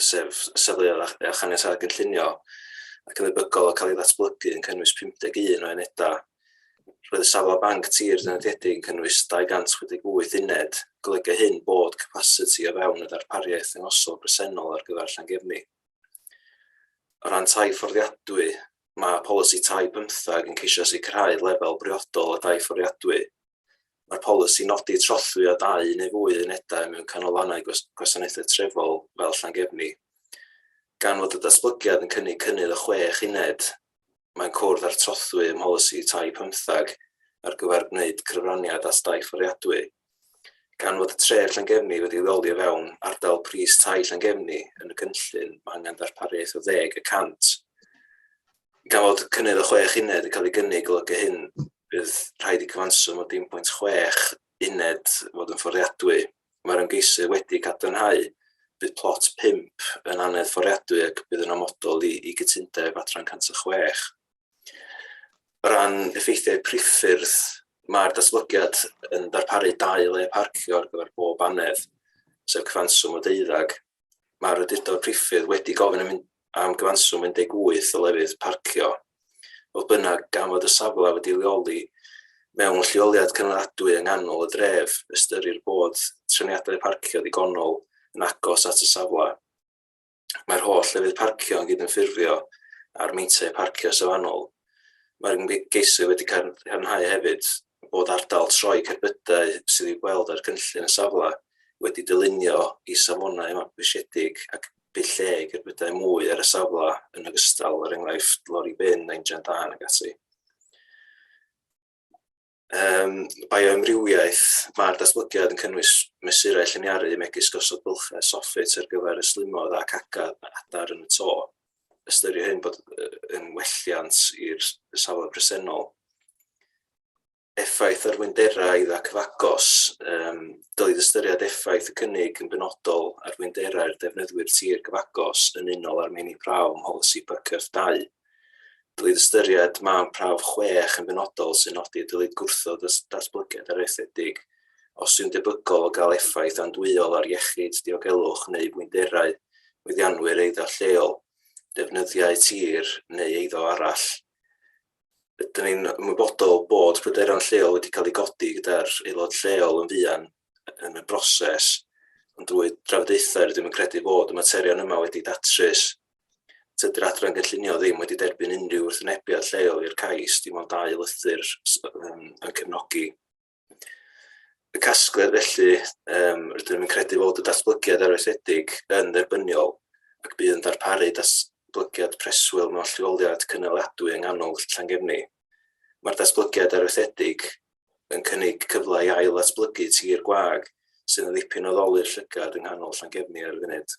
sef safleoedd a, a chaniatâd gynllunio, ac yn ddebygol o cael ei ddatblygu yn cynnwys 51 o unedau. Roedd y safle banc tir dynodiedig yn cynnwys 268 uned, golygu hyn bod capasiti o fewn y ddarpariaeth yngosol bresennol ar gyfer Llangefni. O ran tai fforddiadwy, mae polisi tai bymthag yn ceisio sicrhau lefel briodol o dai fforddiadwy. Mae'r polisi'n nodi trothwy â dau neu fwy unedau mewn canolfannau gwasanaethau trefol fel Llangefni. Gan fod y datblygiad yn cynnig cynnydd o chwech uned, mae'n cwrdd â'r trothwy ym mholisi tai pymtheg ar gyfer gwneud cyfraniad at dai fforiadwy. Gan fod y tref Llangefni wedi leoli o fewn ardal pris tai Llangefni yn y cynllun, mae angen darpariaeth o ddeg y cant gan fod cynnydd o chwech uned yn cael ei gynnig, golygu hyn, bydd rhaid i cyfanswm o 1.6 uned fod yn fforddiadwy. Mae'r ymgeisydd wedi cadarnhau bydd plot 5 yn anedd fforddiadwy ac bydd yn amodol i, i gytundeb adran 106. O ran effeithiau priffyrdd, mae'r datblygiad yn darparu dau le parcio ar gyfer bob anedd, sef cyfanswm o deuddag, mae'r Awdurdod Priffyrdd wedi gofyn am, am gyfanswm 18 o lefydd parcio. Fodd bynnag, gan fod y safle wedi leoli mewn lleoliad cynaladwy yng nghanol y dref, ystyrir bod trefniadau parcio ddigonol yn agos at y safle. Mae'r holl lefydd parcio yn gydymffurfio â'r meintiau parcio safonol. Mae'r ymgeisydd wedi cadarnhau hefyd bod ardal troi cerbydau sydd i'w gweld ar gynllun y safle wedi dylunio i safonau mabwysiedig ac bydd lle i gerbydau mwy ar y safle yn ogystal, er enghraifft lori bin a injan dân ac ati. Um, bioamrywiaeth, mae'r datblygiad yn cynnwys mesurau lliniaru megis gosod bylchau soffit ar gyfer y slimoedd ac agad adar yn y to. ystyried hyn bod yn welliant i'r safle presennol. Effaith ar wynderau ac fagos, um, dylid ystyried effaith y cynnig yn benodol ar wynderau'r defnyddwyr tir gyfagos yn unol â'r meini prawf ym mholisi PCF 2. Dylid ystyried man prawf 6 yn benodol sy'n nodi dylid gwrthod y datblygiad areithedig os yw'n debygol o gael effaith andwyol ar iechyd, diogelwch neu fwynderau mwyddianwyr eiddo lleol, defnyddiau tir neu eiddo arall. Ydyn ni'n ymwybodol bod pryderon lleol wedi cael eu godi gyda'r aelod lleol yn fuan yn y broses, ond drwy drafodaethau rydym yn credu bod y materion yma wedi datrys. Tydy'r adran gynllunio ddim wedi derbyn unrhyw wrthwynebiad lleol i'r cais, dim ond dau lythyr yn cefnogi. y casgliad felly, um, rydym yn credu fod y datblygiad arweithiedig yn dderbyniol ac bydd yn darparu datblygiad preswyl mewn lleoliad cynaliadwy yng nghanol Llangefni. Mae'r datblygiad arweithiedig yn cynnig cyfle i ail atblygu tir gwag sydd yn ddipyn o ddolur llygad yng nghanol Llangefni ar y funud.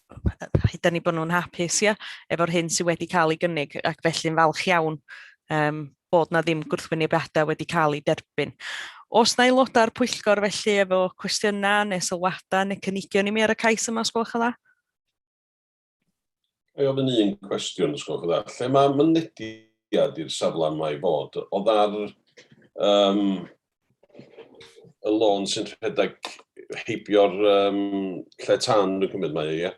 rhaid ni bod nhw'n hapus ia, efo'r hyn sydd wedi cael ei gynnig ac felly'n falch iawn um, bod na ddim gwrthwynebiadau wedi cael ei derbyn. Os na aelodau'r pwyllgor felly efo cwestiynau neu sylwadau neu cynigion i mi ar y cais yma, os gwelwch yn dda? Mae ofyn un cwestiwn, os gwelwch yn dda. Lle mae mynediad i'r safle mae fod? O dda'r um, y lôn sy'n rhedeg heibio'r um, lle tan yn cymryd mae, ie?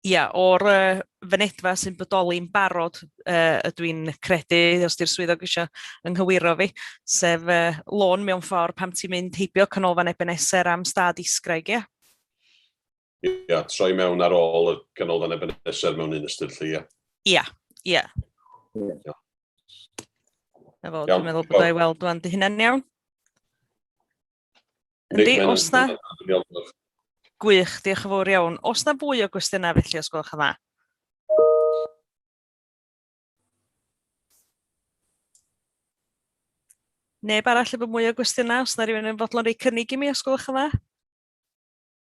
Ia, o'r uh, fynedfa sy'n bodoli'n barod uh, ydw i'n credu, os di'r swyddog eisiau ynghywiro fi, sef uh, lôn mewn ffordd pam ti'n mynd heibio canolfan Ebenezer am stad isgraig, ia? ia, troi mewn ar ôl y ganolfan Ebenezer mewn un ystyr lle, ia. Ia, ia. Ia. Na fo, dwi'n meddwl bod o'i weld dwi'n dy hynna'n iawn. Yndi, os na... Gwych, diolch yn fawr iawn. Os na fwy o gwestiynau felly, os gwelwch yn dda? Neb arall efo mwy o gwestiynau, os na rhywun yn fodlon rei cynnig i mi, os gwelwch yn dda?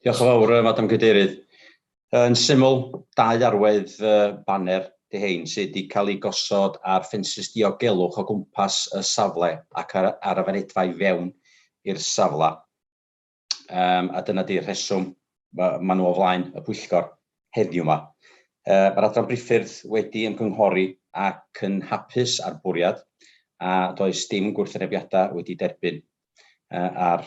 Diolch yn fawr, Madam Cadeirydd. Yn syml, dau arwedd baner di hein sydd wedi cael ei gosod ar ffensys diogelwch o gwmpas y safle ac ar, ar y fanedfa i fewn i'r safle. Um, a dyna di'r rheswm mae ma nhw o flaen y pwyllgor heddiw yma. Uh, Mae'r adran briffyrdd wedi ymgynghori ac yn hapus â'r bwriad a does dim gwrthwynebiadau wedi derbyn uh, ar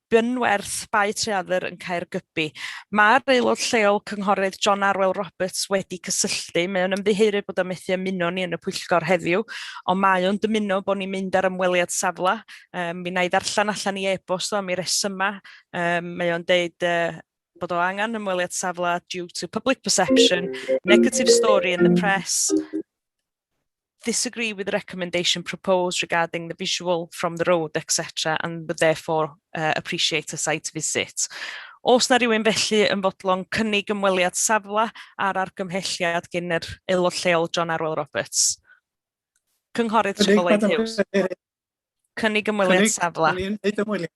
Bunwerth, Bae Treadder yn Caergybi. Mae'r aelod lleol Cynghorydd John Arwel Roberts wedi cysylltu. Mae o'n ymddiheurydd bod o methu ymuno ni yn y pwyllgor heddiw, ond mae o'n dymuno bod ni'n mynd ar ymweliad safle. Um, mi na i ddarllen allan i e-bost o am i resyma. Um, mae o'n deud uh, bod o angen ymweliad safle due to public perception, negative story in the press, disagree with the recommendation proposed regarding the visual from the road, etc. and would therefore uh, appreciate a site visit. Os na rhywun felly yn fodlon cynnig ymweliad safle ar argymhelliad gen yr aelod lleol John Arwel Roberts. Cynghorydd Trigolaidd Hughes. Cynnig ymweliad safle. Cynnig ymweliad.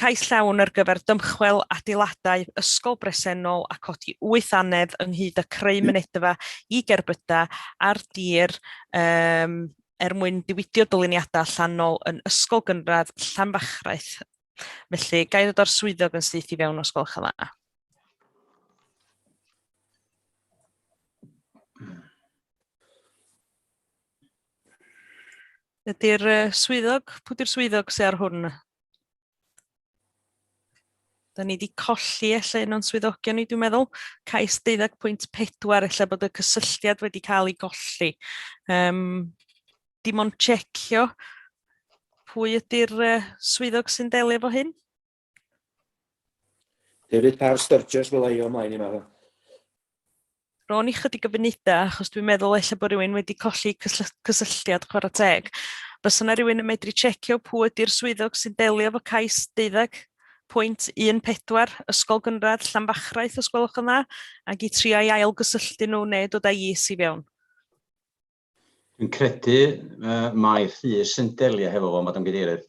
Cais llawn ar gyfer dymchwel adeiladau ysgol bresennol a codi wyth annedd ynghyd â creu mynedfa i gerbydau ar dir um, er mwyn diwydio dyluniadau allanol yn ysgol gynradd Llanfachraeth. Felly, gai ddod o'r swyddog yn syth i fewn os gwelwch yn dda. Ydy'r swyddog, pwy di'r swyddog sy'n ar hwn? Da ni wedi colli efallai un o'n swyddogion ni, dwi'n meddwl, cais 12.4, efallai bod y cysylltiad wedi cael ei golli. Um, dim ond checio pwy ydy'r uh, swyddog sy'n delio efo hyn? Hefyd par Sturgis fel ei o mlaen i meddwl. ro'n i chydig o funudau, achos dwi'n meddwl eich bod rhywun wedi colli cysylltiad chwarae teg. Bys yna rhywun yn medru checio pwy ydy'r swyddog sy'n delio fo cais deuddeg pwynt 14 ysgol gynradd Llanfachraeth os gwelwch yn dda, ac i trio i ail gysylltu nhw neu dod â'i is i fewn. Dwi'n credu uh, mae Rhys yn delio hefo fo, Madam Gadeirydd.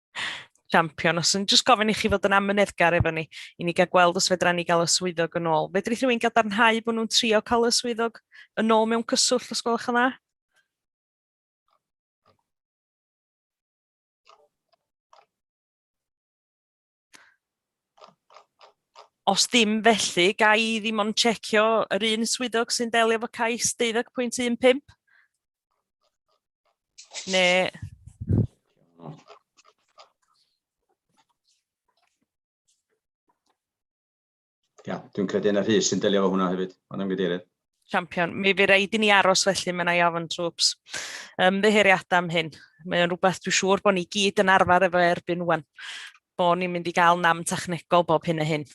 Champion, os yn jyst gofyn i chi fod yn amyneddgar efo ni, i ni gael gweld os fedra ni gael y swyddog yn ôl. Fedri rhywun gadarnhau bod nhw'n trio cael y swyddog yn ôl mewn cyswllt os gwelwch yn dda? Os dim felly, ga i ddim ond checio yr un swyddog sy'n delio efo cais 12.15? Neu... Ia, dwi'n credu yn y rhys sy'n delio fo hwnna hefyd, ond yn gydeirydd. Champion. Mi fi rhaid i ni aros felly, mae'n ei ofyn trwps. Um, ddeheiriadau am hyn. Mae'n rhywbeth dwi'n siŵr bod ni gyd yn arfer efo erbyn wan. Bod ni'n mynd i gael nam technegol bob hyn a hyn.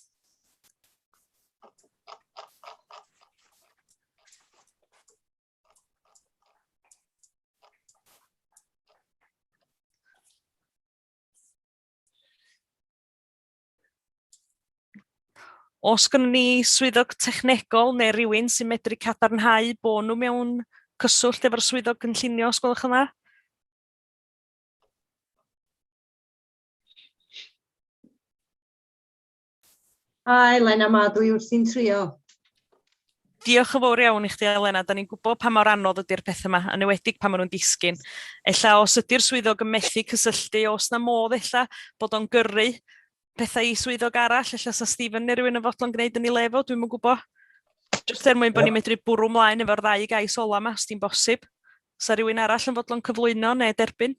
Os gynnu ni swyddog technegol neu rywun sy'n medru cadarnhau bod nhw mewn cyswllt efo'r swyddog gynllunio, os gwelwch yma. Hi, Lena, ma dwi wrthi'n trio. Diolch yn fawr iawn i chdi, Elena. Da ni'n gwybod pa mor anodd ydy'r pethau yma, yn ewedig pan maen nhw'n disgyn. Ella os ydy'r swyddog yn methu cysylltu, os na modd ella bod o'n gyrru pethau i swyddog arall, ella sa Stephen neu rhywun yn fodlon gwneud yn ei lefo, dwi'n mynd gwybod. Jyst er mwyn bod ni'n medru bwrw mlaen efo'r ddau gais ola yma, os di'n bosib. Sa rhywun arall yn fodlon cyflwyno neu derbyn?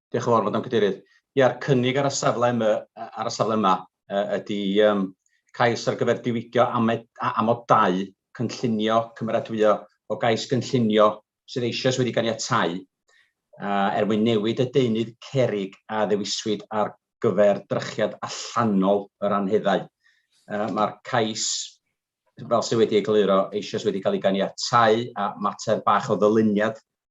Diolch yn fawr, Madam Cadeirydd. Ia'r cynnig ar y safle yma, ar y safle yma ydy um, cais ar gyfer diwygio amed, amodau cynllunio cymeradwyo o gais gynllunio sydd eisoes wedi ganiatau uh, er mwyn newid y deunydd cerig a ddewiswyd ar gyfer drychiad allanol yr anheddau. Uh, Mae'r cais fel sydd wedi ei gluro eisoes wedi cael ei ganiatau a mater bach o ddyluniad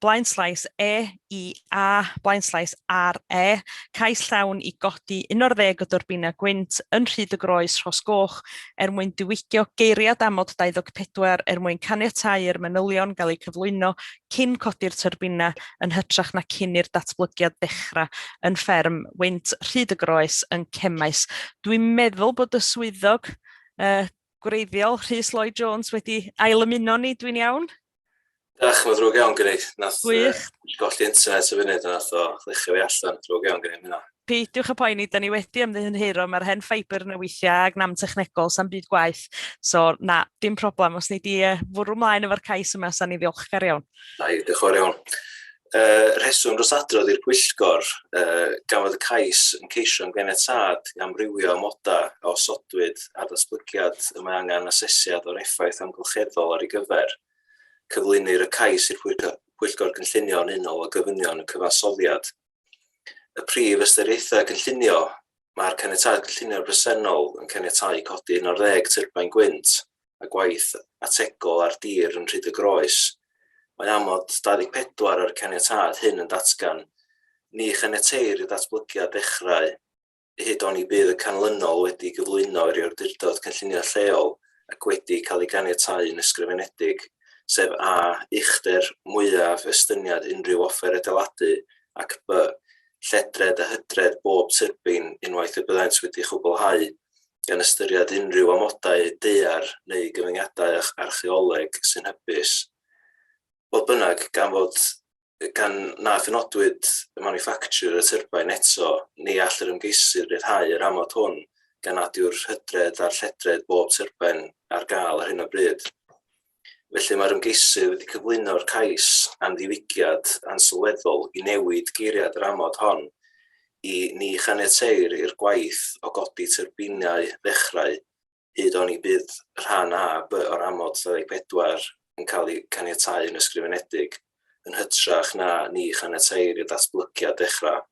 blaenslais E i A, blaenslais ar E, cais llawn i godi 11 o dyrbinau gwynt yn Rhyd y Groes, Rhos Goch, er mwyn diwygio geiriad amod 24 er mwyn caniatáu i'r manylion gael eu cyflwyno cyn codi'r tyrbinau yn hytrach na cyn i'r datblygiad ddechrau yn fferm wynt Rhyd y Groes yn Cemaes. Dwi'n meddwl bod y swyddog uh, gwreiddiol Rhys Lloyd Jones wedi ail ymuno ni, dwi'n iawn? Ach, mae'n ddrwg iawn gen i. Nath Gwych. Uh, golli internet y funud, nath o ddechrau fi allan, ddrwg iawn gen i hynna. Peidiwch y poeni, da ni wedi ymddihynhuro, mae'r hen ffaibr yn y weithiau ag nam technegol, sa'n byd gwaith. So, na, dim problem, os ni di uh, fwrw mlaen efo'r cais yma, sa'n ni ddiolchgar iawn. Da, diolch o'r iawn. Y rheswm dros adrodd i'r Pwyllgor, y gafodd y cais yn ceisio yn ganiatâd i amrywio amodau a osodwyd ar ddatblygiad y mae angen asesiad o'r effaith amgylcheddol ar ei gyfer. Cyflwynir y cais i'r Pwyllgor Gynllunio yn unol â gofynion y cyfansoddiad. Y prif ystyriaethau cynllunio, mae'r caniatâd cynllunio bresennol yn caniatáu codi 11 tyrbain gwynt a gwaith ategol ar dir yn Rhyd y Groes. Mae amod 24 o'r caniatâd hyn yn datgan, Ni chaniateir i ddatblygiad ddechrau hyd oni bydd y canlynol wedi gyflwyno i'r Awdurdod Cynllunio Lleol ac wedi cael ei ganiatáu'n ysgrifenedig, sef a. uchder mwyaf estyniad unrhyw offer adeiladu ac b. lledred a hydred bob tyrbin unwaith y byddant wedi chwblhau gan ystyried unrhyw amodau daear neu gyfyngiadau archaeoleg sy'n hybus. Fodd bynnag, gan fod gan na phenodwyd y maniffactiwr y tyrbain eto, ni all yr ymgeisydd ryddhau yr amod hwn gan nad yw'r hydredd a'r lledredd bob tyrbain ar gael ar hyn o bryd. Felly, mae'r ymgeisydd wedi cyflwyno'r cais am ddiwygiad ansylweddol i newid geiriad yr amod hon i Ni chaniateir i'r gwaith o godi tyrbinau ddechrau hyd oni bydd rhan A, B o'r amod 24 yn cael ei caniatáu yn ysgrifenedig, yn hytrach na Ni chaniateir i'r datblygiad ddechrau.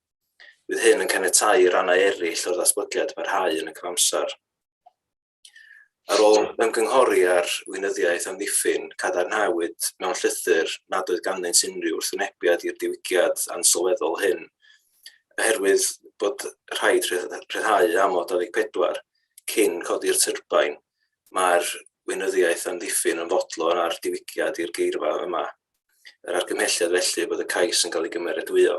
Bydd hyn yn caniatáu i rannau eraill o'r datblygiad barhau yn y cyfamser. Ar ôl ymgynghori ar weinyddiaeth amddiffyn, cadarnhawyd mewn llythyr nad oedd ganddynt unrhyw wrthwynebiad i'r diwygiad ansylweddol hyn, oherwydd bod rhaid rhyddhau amod 24 cyn codi'r tyrbain, mae'r weinyddiaeth amddiffyn yn fodlon â'r diwygiad i'r geirfa yma. Yr argymhelliad felly bod y cais yn cael ei gymeradwyo.